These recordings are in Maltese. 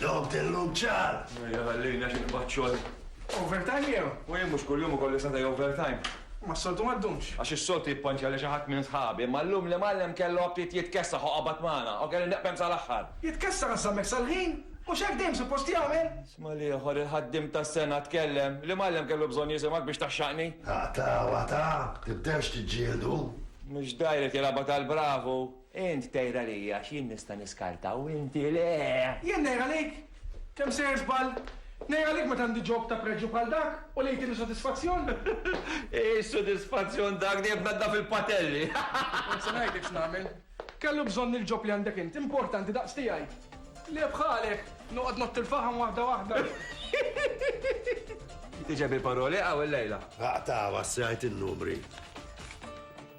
Dom tellum ċar! Ejja, għallina xi nqbad xogħol. Overtime jew? U jien mhux kuljum ikolli sata' overtime. Ma s-soltu ma ddumx. Għax is-soltu jippanċja li xi ħadd minn sħabi, imma llum l-imgħallem kellu aptit jitkessaħ u qabad magħna, u kelli neqbem sal-aħħar. Jitkessaħ issa hemmhekk sal-ħin? Mhux hekk dejjem suppost jagħmel? Isma' l-ieħor, il-ħaddiem tas-sena tkellem. L-imgħallem kellu bżonn jisimgħek biex tgħaxxaqni? Aqtgħu, aqtgħu, tibdewx tiġġieldu. Mhux dgħajr qed jilgħabha tal-bravu. Int tgħir għalija għax jien nista' niskarta u inti le! Jien ngħir għalik? Kemm sejjer żball! Ngħir għalik meta għandi ġog ta' preġju bħal dak u li jtini sodisfazzjon? Hi x'sodisfazzjon dak dejjem tnaddaf il-patelli! Kont se ngħidlek x'nagħmel. Kellu bżonn il-ġob li għandek int, importanti daqs tiegħi. Le bħalek, noqgħod ngħotti l-faħam waħda waħda. Tiġeb il-paroli hawn illejla? Aqtgħuha s-siegħa jgħid in-numri.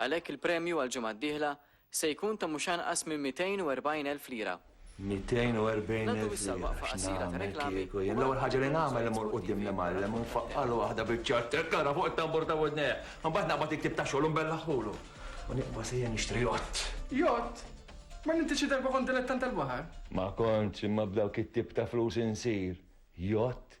Għalhekk il-premju għall-ġimgħa d-dieħla se jkun ta' mhux anqas minn 240 elf lira. 240 elf lira x'nagħmel kieku jien? L-ewwel ħaġa li nagħmel immur quddiem l-imgħallem u nfaqqagħlu waħda biċ-ċatt hekk ara fuq it-tambur ta' widnejh. Imbagħad naqbad il-ktieb tax-xogħol u nbellaħħulu. U nibqa' sejjer nixtri jott. Jott? Ma m'intix xi darba kont dilettant tal-baħar? Ma kontx, imma b'dawk it-tip ta' flus insir jott.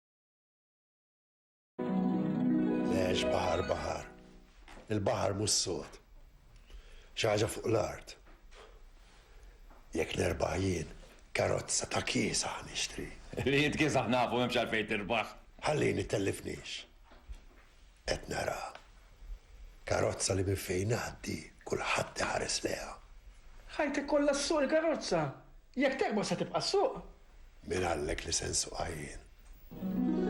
Lex baħar baħar. Il-baħar mhux sod. Xi ħaġa fuq l-art. Jekk nerbaħ jien, karozza ta' kiesa nixtri. Li jitkisaħ nafu m'hemmx għalfejn tirbaħ. Ħallini tellifniex. Qed nara karozza li minn fejn ngħaddi kulħadd iħares lejha. Ħajti kollha ssuq il-karozza. Jekk tekber se tibqa' ssuq. Min qallek li se nsuqha jien?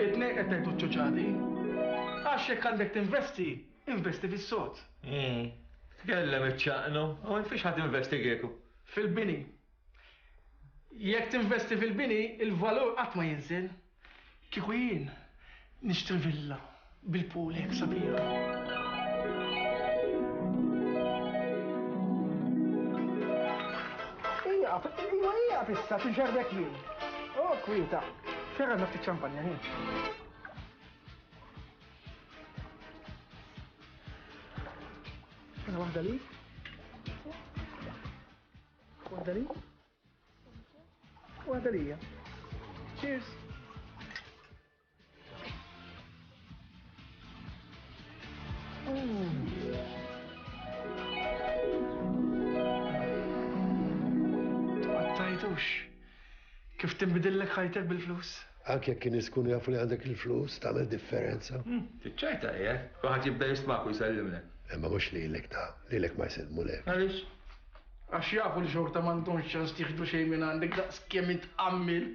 It-tnejn qed tgħidu ċ-ċuċati. Għax jekk għandek tinvesti, investi fis-sod. Tkellem iċ-ċaqnu, hawn fiex ħa tinvesti kieku? Fil-bini. Jekk tinvesti fil-bini, il-valur qatt ma jinżel. Kieku jien, nixtri villa bil-pool hekk sabiħa. Waħda li? Waħda lija. Cheers! Għattajtux, kif timbidillek ħajtek bil-flus? Anke jekk in-nies ikunu jafu li għandek il-flus, tagħmel differenza. Fiċ-ċajta qiegħed. Kulħadd jibda jistmak u jsellimlek. Imma mhux lilek ta'. Lilek ma jsellmulek. Għaliex? Għax jafu li xorta m'għandhomx ċans jieħdu xejn minn għandek daqs kemm int għammiel.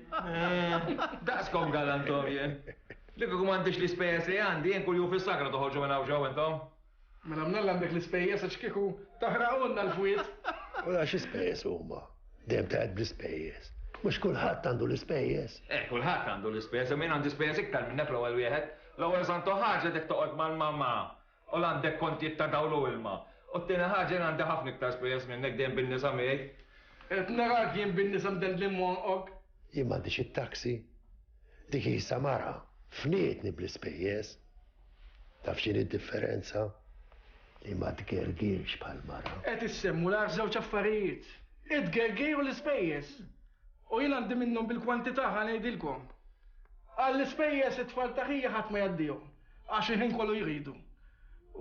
Daqskom galantorji. Li kieku m'għandix l-ispejjeż li għandi, jien kuljum fis-sakra toħorġu minn hawn xi hawn intom. Mela mnalla għandek l-ispejjeż għax kieku taħraqulna l-fwiet. U għax ispejjeż huma. Dejjem taqgħed bl-ispejjeż. Mhux kulħadd għandu l-ispejjeż. Eh, kulħadd għandu l-ispejjeż, min għandu spejjeż iktar minnek l-ewwel wieħed. L-ewwel santu ħaġa dek toqgħod mal-mamma u l għandek kontijiet ta' dawl u ilma. U t-tieni ħaġa jien għandi ħafna iktar spejjeż minnek dejjem bin-nisa miegħi. Qed narak jien bin-nisa mdellin monqok. Jien m'għandix it-taxi. Dik hi samara. Fnietni bl-ispejjeż. Taf x'inhi d-differenza? Li ma tgergirx bħall-mara. Qed issemmu l-agħar żewġ affarijiet, it-tgergir u l-ispejjeż. U jien għandi minnhom bil-kwantità ħa ngħidilkom. Għall-ispejjeż it-tfal ta' ħija ħadd ma jgħaddihom għax il-ħin kollu jridu.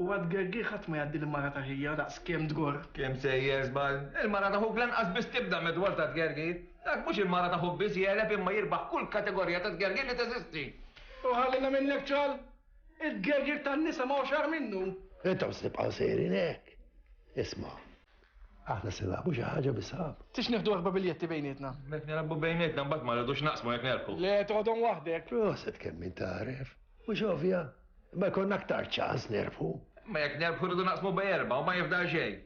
U għat-tgergir ħadd ma jgħaddi l-mara ta' ħija daqs kemm tgorr. Kemm sejjer żball. Il-mara ta' ħuk lanqas biss tibda medwar ta' tgergir. Dak mhux il-mara ta' ħuk biss jegħleb imma jirbaħ kull kategorija ta' tgergir li teżisti. U ħallina minnek ċal, il-gegir tan-nisa ma hux agħar minnu. Intom se tibqgħu sejrin hekk. Isma', aħna se nagħbu xi ħaġa bisab. Tix nieħdu erba' biljetti bejnietna. Mek nilagħbu bejnietna mbagħad ma rridux naqsmu jekk nerpu. Le toħodhom waħdek. Proset kemm min tagħref. Mhux ovvja. Ma jkollna aktar ċans nerfu. Ma jekk nerfu rridu naqsmu bej erba' u ma jifdal xejn.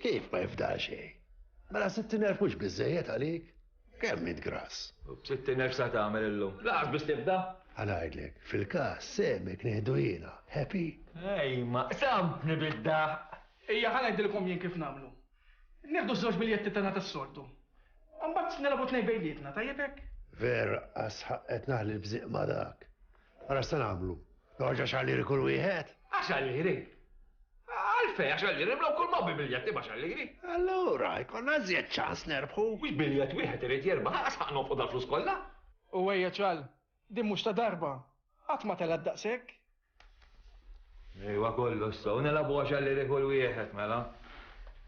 Kif ma jifdal xejn? Mela se tinerfux biżejjed għalik? Kemm int grass? U b'sittin elf sa tagħmel illum? Lanqas biss tibda! Ħa ngħidlek, fil-każ, sehmek nieħdu jiena. Happy? Ejma, qsammtni bid-daħq! Ejja, ħa ngħidilkom jien kif nagħmlu. Nieħdu ż-żewġ biljetti tagħna tas-soltu. U mbagħad nilgħabu tnejn bejnietna, tajjeb hekk? Vera, sħaq qed naħli l-bżieq ma' dak. Ara x'se nagħmlu? Joħorġ għaxar liri kull wieħed? Għaxar liri? Għalfej, għaxar liri, mlaw kull ma bi biljet imma għaxar liri. Allura, jkollna żjed ċans nerbħu. Mhux biljet wieħed irid jerba, ħaqas ħaq nofqu dal flus kollha. U ejja ċal, din mhux ta' darba. Qatt ma telgħet daqshekk. Ejwa kollu s-saw, nelabu għaxar liri kull wieħed, mela.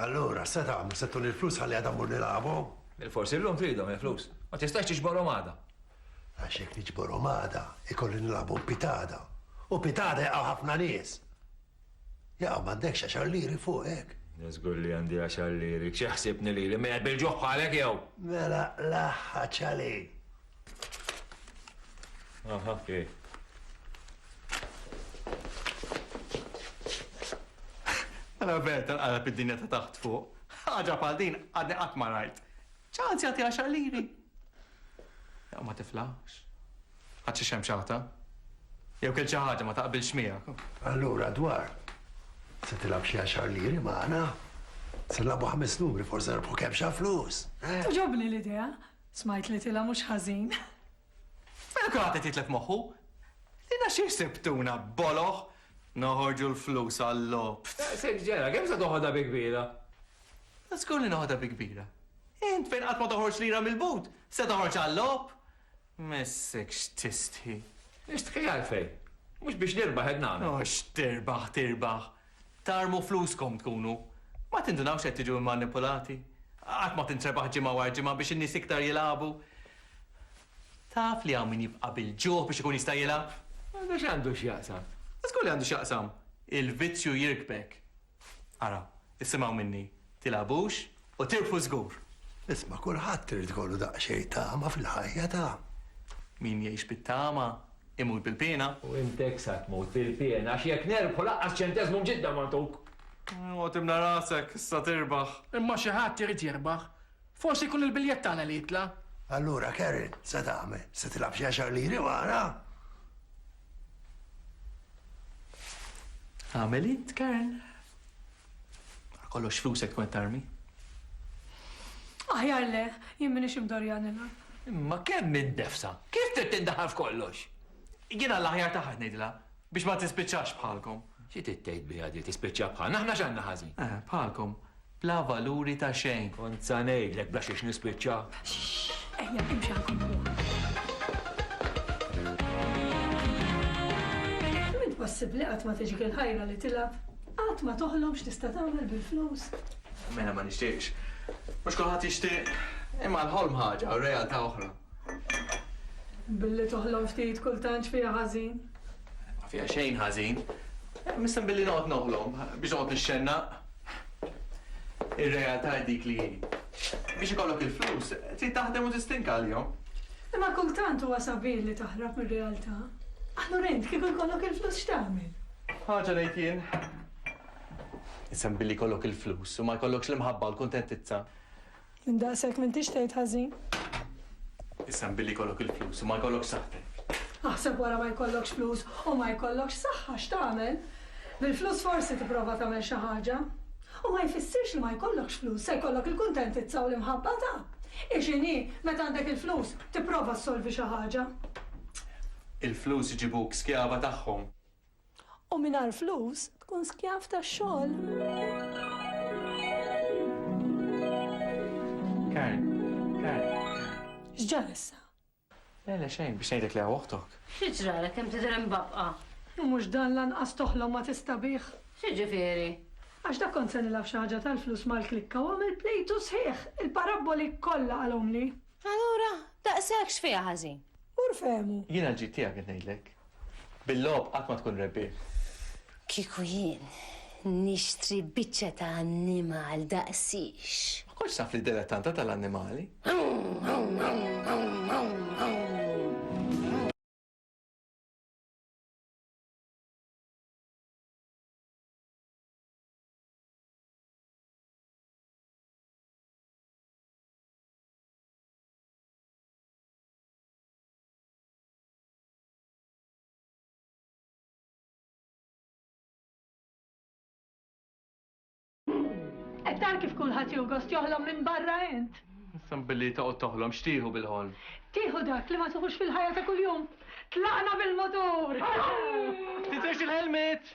Allura, se tagħmlu? Se tuni l-flus ħalli għada mmur nilagħabhom? Bilforsi llum tridhom il-flus. Ma tistax tiġborhom għada. Għax jekk niġborhom għada, ikolli nilagħabhom pitada. U pitada jaqgħu ħafna nies. Jaqgħu m'għandekx għax għalliri fuq hekk. Niżgur li għandi għax għalliri. Xi ħsibni lili mejjed bil-ġuħħalek jew? Mela laħħa ċali. Aha, okay. Għala ver tal-qalab id-dinja ta' taħt fuq. ħaġa bħal din għadni qatt ma rajt. ċans jagħti għaxar liri. Jew ma tiflax. Għad xi xemxata. Jew kell xi ħaġa ma taqbilx miegħek. Allura dwar se tilab xi għaxar liri magħna. Se nlabu ħames numri forse nerbu kemm xa flus. Eh? Tuġobni l-idea. Smajt li tilha mhux ħażin. Mela kulħadd qed jitlef moħħu. Lilna xi jsibtuna, boloh? Noħorġu l-flus għal-logħob. Daqshekk ġara, kemm se toħodha bi kbira? Żgur li noħodha bi kbira. Int fejn qatt ma toħroġ lira mill-but, se toħroġ għal-logħob? M'issekx tistħi. Nistħi għalfejn? Mhux biex nirbaħ qed nagħmel. U x'tirbaħ tirbaħ? Tarmu fluskom tkunu ma tindunawx qed tiġu mmanipulati? Qatt ma tintrebaħ ġimgħa wara ġimgħa biex in-nies iktar jilagħbu? Taf li hawn min jibqa' bil-ġuħ biex ikun jista' jilgħab? Għandu x'għandu x'jaqsam? Żgur li għandu x'jaqsam, il-vizzju jirkbek. Ara, issimgħu minni, Tilgħabux u tirbħu żgur! Isma' kulħadd irid ikollu daqsxejn tama fil-ħajja ta'. Min jgħix bit-tama imut bil-piena. U int hekk sa tmut bil-piena għax jekk nerbħu lanqas ċenteżmu mġidda ma ntuk. Oqgħod imla' rasek, issa tirbaħ. Imma xi ħadd irid jirbaħ. Forsi jkun il-biljett tagħna li jitla'. Allura Karen, se tagħmel? Se tilgħab xi għaxar liri wara? Agħmel int, Karen. Wara kollox flusek tkun qed tarmi. Aħjar le, jien m'iniex imdorrija nilgħab. Imma kemm hi ndefsa! Kif trid tindaħal f'kollox? Jiena l-aħjar tagħha qed ngħidilha biex ma tispiċċax bħalkom. Xi trid tgħid biha di, tispiċċa bħalna? Aħna x'għandna ħażin? Eh, bħalkom, bla valuri ta' xejn. Kont sa ngħidlek bla xiex nispiċċa. Ejja, imxi għal kompjuter. Kif inhi possibbli qatt ma tiġik il-ħajra li tilgħab? Qatt ma toħlom x'tista' tagħmel bil-flus. Mela ma nixtieqx. Mhux kulħadd jixtieq. Imma l-ħolm ħaġa u r-realtà oħra. Billi toħlom ftit kultant x'fiha ħażin? Ma fiha xejn ħażin. Missem billi noqgħod noħlom biex noqgħod nixxennaq. Ir-realtà hi dik li hi. Biex ikollok il-flus trid taħdem u tistinka għalihom. Imma kultant huwa sabiħ li taħrab mir-realtà. Allura int kieku jkollok il-flus x'tagħmel? Ħaġa ngħid jien. Isem billi jkollok il-flus u ma jkollokx l-imħabba u l-kuntentizza. Minn daqshekk m'intix tgħid ħażin. Isem billi jkollok il-flus u ma jkollokx saħħtek. Aħseb wara ma jkollokx flus u ma jkollokx saħħa x'tagħmel. Bil-flus forsi tipprova tagħmel xi ħaġa. U ma jfissirx li ma jkollokx flus se jkollok il-kuntentizza u l-imħabba ta'. Hi x'inhi, meta għandek il-flus, tipprova ssolvi xi ħaġa. Il-flus iġibuk skjava tagħhom. U mingħajr flus tkun skjav tax-xogħol. Karen, Karen. X'ġar issa? Le, le xejn, biex ngħidlek li hawn oħtok. Xi ġralek kemm tidher imbabqa'? U mhux dan lanqas toħlom ma tista' bih. X'jiġifieri? Għax dak kont se nilgħab xi ħaġa tal-flus mal-klikka u għamilt plejtu sħiħ! Il-parabboli kollha qalhomli. Allura, daqshekk x'fiha ħażin? Mur fehmu. Jiena l-ġid tiegħek qed ngħidlek. Bil-logħob qatt ma tkun rebbieħ. Kieku jien nixtri biċċa ta' annimal daqsix. Ma kontx naf li dilettanta tal-annimali. Qed tara kif kulħadd jew gost joħlom minn barra int? Issa billi toqgħod toħlom x'tieħu bil-ħolm? Tieħu dak li ma tieħux fil-ħajja ta' kuljum. Tlaqna bil-mutur! Tinsewx il-helmet!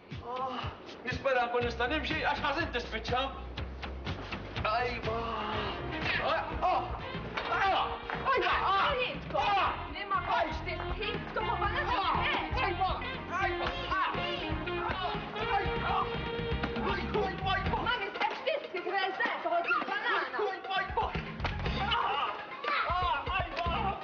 Ahh, nispera nkun nista' nimxi għax ħażin tispiċċa. Ajwa!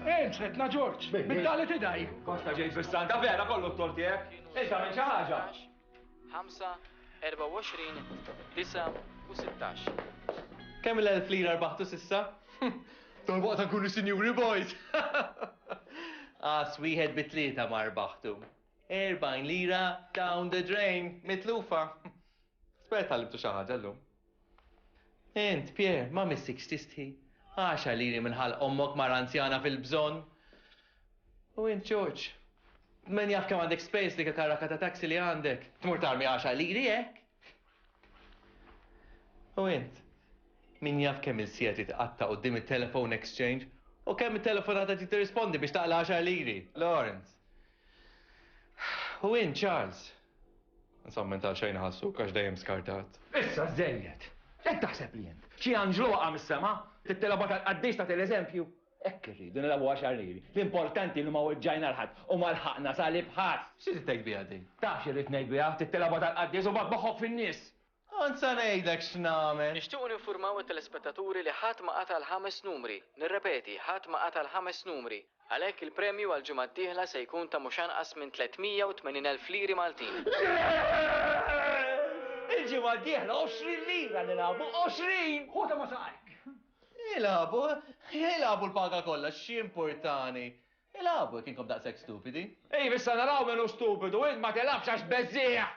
Ejn, sretna Ġorġ, bid-dali tidaj. Kosta ġejt fis-santa vera kollu t-tor tiegħek. Issa minn xi ħaġa. 5, 24, 9 u 16. Kemm l-elf lira rbaħtu sissa? Tal waqt nkunu sinjuri boys. As wieħed bi tlieta ma rbaħtu. 40 lira down the drain, mitlufa. Spera tal-imtu xi ħaġa llum. Int, Pierre, ma missikx tistħi? Għaxar liri minn ħalq ommok mara anzjana fil-bżonn! U int, George, min jaf kemm għandek spejjeż f'dik il-karrakka ta' taxi li għandek? Tmur tarmi għaxar liri hekk? U int, min jaf kemm il-siegħet li tqatta' quddiem it-telephone exchange u kemm it-telefonata trid tirrispondi biex taqla' għaxar liri? Lawrence, U int, Charles, Insomma, int għal xejn iħassuk għax dejjem skartat. Issa żejjed! Hekk taħseb li int? Xi anġlu waqa' mis-sema? Trid tilgħobha tal-qaddis tagħti l-eżempju? Hekk irridu nilgħobuha x'għarrieri. L-importanti li ma weġġajna 'l ħadd u ma lħaqna salib ħadd! X'trid tgħid biha din? Taf x'irrid ngħid biha, trid tilgħobha tal-qaddis u mbagħad moħħok fin-nies! Kont sa ngħidlek x'nagħmel! Nixtiequ ninfurmaw it-telespettaturi li ħadd ma qata' l-ħames numri. Nirrepeti, ħadd ma qata' l-ħames numri. Għalhekk il-premju għall-ġimgħa d-dieħla se jkun ta' mhux anqas minn 380 elf liri Maltin. Yes! Il-ġimgħa d-dieħla 20 lira nilagħbu, 20! Hu ta' ma saqajk! Ilagħbu, ilagħbu l-paga kollha, x'jimpurtani! Ilagħbu jekk inkom daqshekk stupidi. Iva issa naraw min hu stupidu, int ma tilgħabx għax beżżieħ!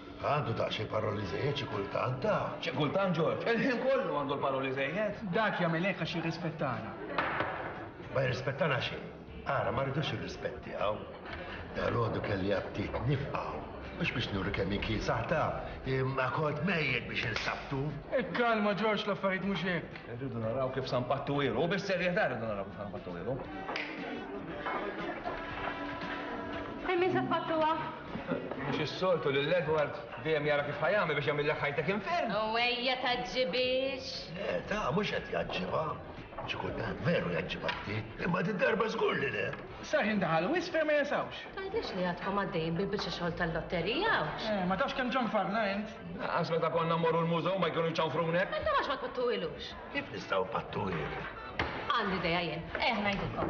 Għandu daqsxejn paroli żejjed xi kultant da. Xi kultant Ġorġ, il-ħin kollu għandu l-paroli żejjed. Dak jagħmel hekk għax jirrispettana. Ma jirrispettana xejn. Ara, ma rridux ir-rispett tiegħu. Dalgħodu kelli aptit nifqa' mhux biex nuri kemm hi kiesaħ ta' imma kont mejjed biex insabtu. Ikkalma Ġorġ l-affarijiet mhux hekk. Irridu naraw kif San Pattu ilu, bis-serjetà rridu naraw kif San Pattu ilu. Hemm min se tpattuha? Mhux is-soltu lil Edward dejjem jara kif ħa jagħmel biex jagħmillek ħajtek infern. U ejja tgħaġġibhiex. Le, ta' mhux qed jgħaġġibha. Xi kultant veru jgħaġġibha ftit, imma din darba żgur li le. Sarħin daħal wisq fejn ma jasawx. Tgħidlix li għadkom għaddejjin bil-biċċa xogħol tal-lotterija hawnx. Eh, ma tafx kemm ċanfarna int. Lanqas meta konna mmorru l-mużew ma jkunu jċanfrunek. Int għax ma tpattuhilux. Kif nistgħu pattuhil? Għandi dejja jien. Ejja ngħidilkom.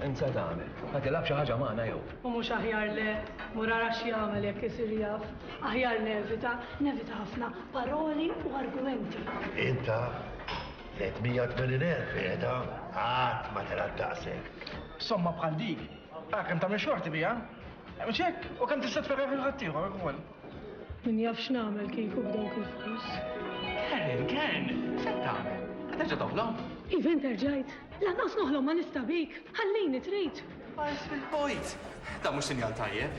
Insa tagħmel. Ma tilab xi ħaġa magħna jew. U mhux aħjar le murara xi jagħmel jekk isir jaf. Aħjar nevita, nevita ħafna paroli u argumenti. Inta 380,000 qiegħda għad ma tilab daqshekk. Somma bħal dik Ah, kemm tagħmel xorti biha? Mhux hekk, u kemm tista' tferreħ lil ħaddieħor ukoll. Min jaf x'nagħmel kieku b'dawk il-flus. Karen, Karen, se tagħmel? Qed terġa' toħlom? Iven terġajt. Lanqas noħlom ma nista' bik. Ħallini trid. Għajs fil-bojt. Da mhux sinjal tajjeb.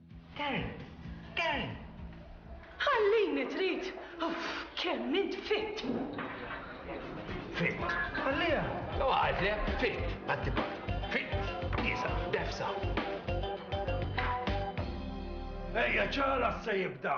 Gary! Gary! Ħallini trid! Uff, kemm int fitt! Fitt! Ħalliha! U għalt le, fitt! Għatti Fitt! Kisa, defsa! Ejja ċara se jibda!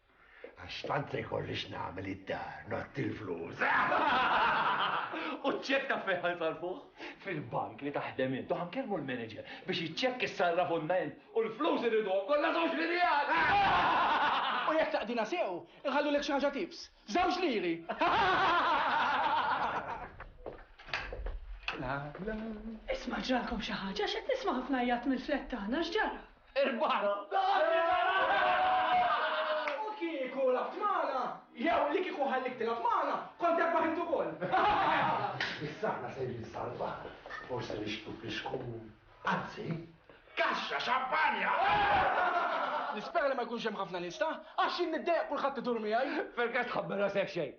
Għax tant se jkolli x'nagħmel id-dar ngħotti l-flus. U ċ-ċekk taf fejn ħa nsarrfuh? Fil-bank li taħdem int u ħa nkellmu l-manager biex iċ-ċekk issarraf u nna int u l-flus irridhom kollha żewġ lirijat! U jekk taqdina sew, inħallulek xi ħaġa tips. Żewġ liri! Isma' ġralkom xi ħaġa għax qed nisma' ħafna għajjat mill-flat tagħna, x'ġara? U kieku labt magħna, jew li kieku ħalliek tilgħab magħna, kont erbaħ int ukoll. Issa aħna sejrin salva, forsi nixbdu flixku, anzi, kaxxa xampanja! Nispera li ma jkunx hemm ħafna nies, ta? Għax jien niddejjaq kulħadd idur miegħi. Pergass tħabbar rasek xejn.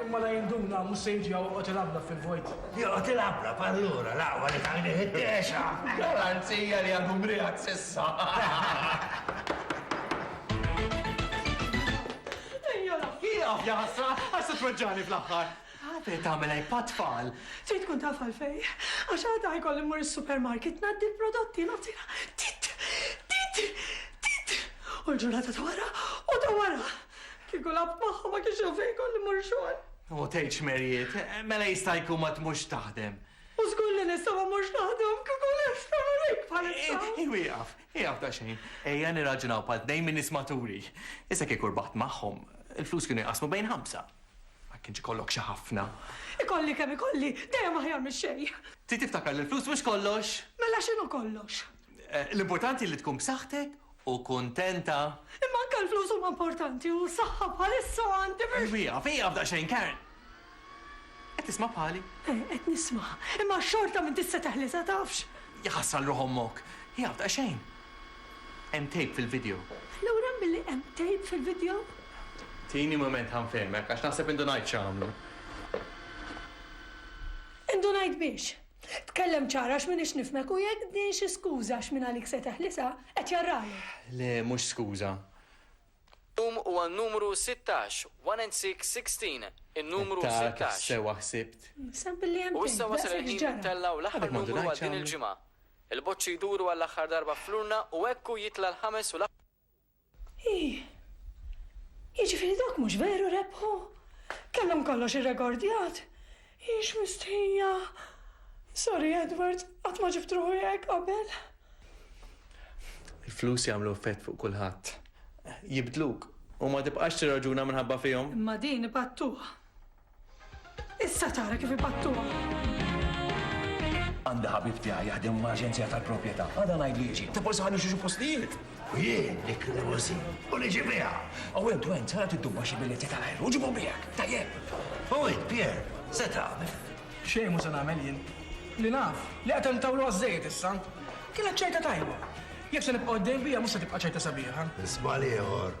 Imma la jinduna, mhux se jiġi joqgħod ilabblab fil-vojt. Joqgħod ilabblab allura, l-aqwa li tajnieh it-tiexa! Garanzija li għadu mriegħed s'issa! Ieqaf, jaħasra, għax se tweġġagħni fl-aħħar! Għadek tagħmel hekk bħat-tfal! Trid tkun taf għalfejn, għax għada ħajkolli mmur is-supermarket ngħaddi l-prodotti, nagħtina tit! tit! tit! u l-ġurnata ta' wara u ta' wara! Kieku lagħabt magħhom ma kienx hawn fejn ikolli mmur xogħol. O tgħidx Marriet, mela jista' jkun ma tmurx taħdem. U żgur li nista' ma mmurx naħdem kieku nista' nurejk bħalissa. Ejw ieqaf, ieqaf daqsxejn. Ejja nirraġunaw bħal tnejn minn nies maturi. Issa kieku rbaħt magħhom, il-flus kienu jqassmu bejn ħamsa. Ma kienx ikollok xi ħafna. Ikolli kemm ikolli, dejjem aħjar mix-xejn. Trid tiftakar li l-flus mhux kollox. Mela x'inhu kollox? L-importanti li tkun b'saħħtek u kuntenta. Imma anke l-flus huma importanti u s-saħħa bħalissa għandi biex. Ejw ieqaf, ieqaf daqsxejn, Karen! Qed tisma' bħali? Eh, qed nisma'. Imma xorta m'intix se teħlisha, tafx? Jħass għal ruħ ommok. Ieqaf daqsxejn. Hemm tape fil-video. Lura milli hemm tape fil-video? Tini mument ħa nfehmek għax naħseb indunajt x'għamlu. Indunajt biex? Tkellem ċar għax minix nifhmek u jekk din xi skuża għax min għalik se teħlisha, qed jarralek. Le mhux skuża. Illum huwa n-numru sittax, one and six, sixteen, in-numru Qed tara kif sittax. sewwa ħsibt? Sa billi hemm U issa tgħid, wasal daqshekk il-ħin li x'ġara? ntellgħu l-aħħar Għadek m'għandu numru ngħid għal din x'għamlu. il-ġimgħa. Il-boċċi jduru għall-aħħar darba fl-urna u hekk hu jitla' l-ħames u l-aħħar. Ih! Jiġifieri dak mhux veru rebħu? Kellhom kollox irregordjat? Hi x'mistħija! Sorry Edward, qatt ma ġibt ruħi hekk qabel. Il-flus jagħmlu effett fuq kulħadd. Jibdluk u ma tibqax tirraġuna minħabba fihom. Imma din ipattuha. Issa tara kif ibattuha! Għandi ħabib tiegħi jaħdem ma' aġenzija tal-propjetà. Għada ngħid li jiġi. Tafu sa fejn imxu xi postijiet! U jien dik l-limousine u li ġie biha! U int u int sara tiddubba xi biljetti tal-ajru u ġibhom miegħek! Tajjeb! U int, Pierre, se tagħmel? Xejn mhu se nagħmel jien. Li naf, li qed intawlu għaż-żejjed issa. Kienet ċajta tajba. Jekk se nibqa' għoddejn biha mhux se tibqa' ċajta sabiħa. Żball ieħor!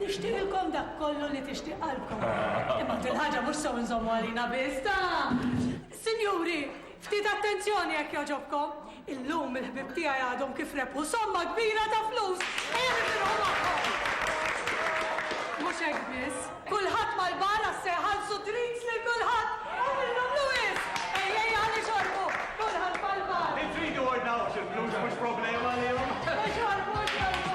Nixtieqilkom dak kollu li tixtieq qalbkom. Imma din il-ħaġa mhux sew inżommu għalina biss, ta! Sinjuri, ftit attenzjoni jekk jogħġobkom! Illum il-ħbieb tiegħi għadhom kif rebħu somma kbira ta' flus! Ejja nifirħu magħhom! Mhux hekk biss, kulħadd mal-bar għax se jħallsu drinks lil kulħadd! Għamilnhomlu wisq! Ejjej ħa nixorbu, kulħadd mal-bar! Intridu ordnawx il-flus mhux problema għalihom! Ixorbu, ixorbu!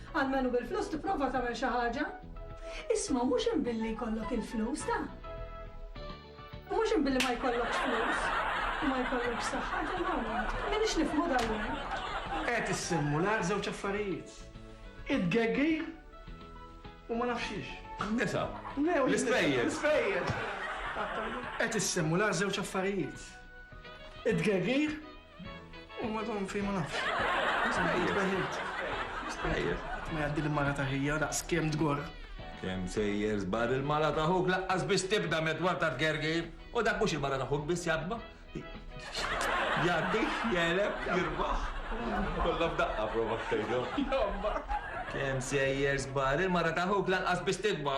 Almenu bil-flus tipprova tagħmel xi ħaġa. Isma' mhux hemm billi jkollok il-flus ta'. U mhux hemm billi ma jkollokx flus. U ma jkollokx saħħa ta' mawt. Minix nifhmu dal-jum. Qed issemmu l-għar żewġ affarijiet. Id-geggi u ma nafxiex. Nisa. L-ispejjeż. L-ispejjeż. Qed issemmu l-għar żewġ affarijiet. Id-geggi U ma dom fej ma nafx. Spejjeż, spejjeż. Spejjeż. Ma jgħaddi l-mara ta' ħija daqs kemm tgorr. Kemm sejjer żbar il-mara ta' ħuk laqqas biex tibda medwar ta' tgergir. U dak mhux il-mara ta' ħuk biss jadba. Jaddi, jeleb, jirbaħ. Kollha f'daqqa prova ftejdu. Jobba. Kemm sejjer żbar il-mara ta' ħuk laqqas biex tidba.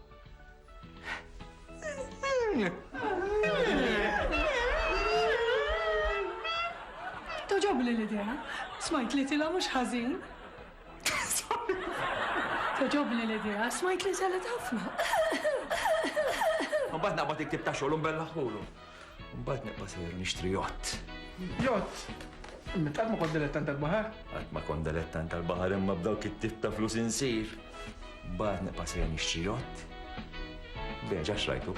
Toġobli l-idea, smajt li tila mhux ħażin. Toġobli l-idea, smajt li salet ħafna. Mbagħad naqbad iktib ta' xogħol u mbellaħħulu. Mbagħad nibqa' sejjer nixtri jott. Jott? Imma qatt ma kont dilettant tal-baħar? Qatt ma kont dilettant tal-baħar imma b'dawk it-tip ta' flus insir. Mbagħad nibqa' sejjer nixtri jott. Beġa xrajtu.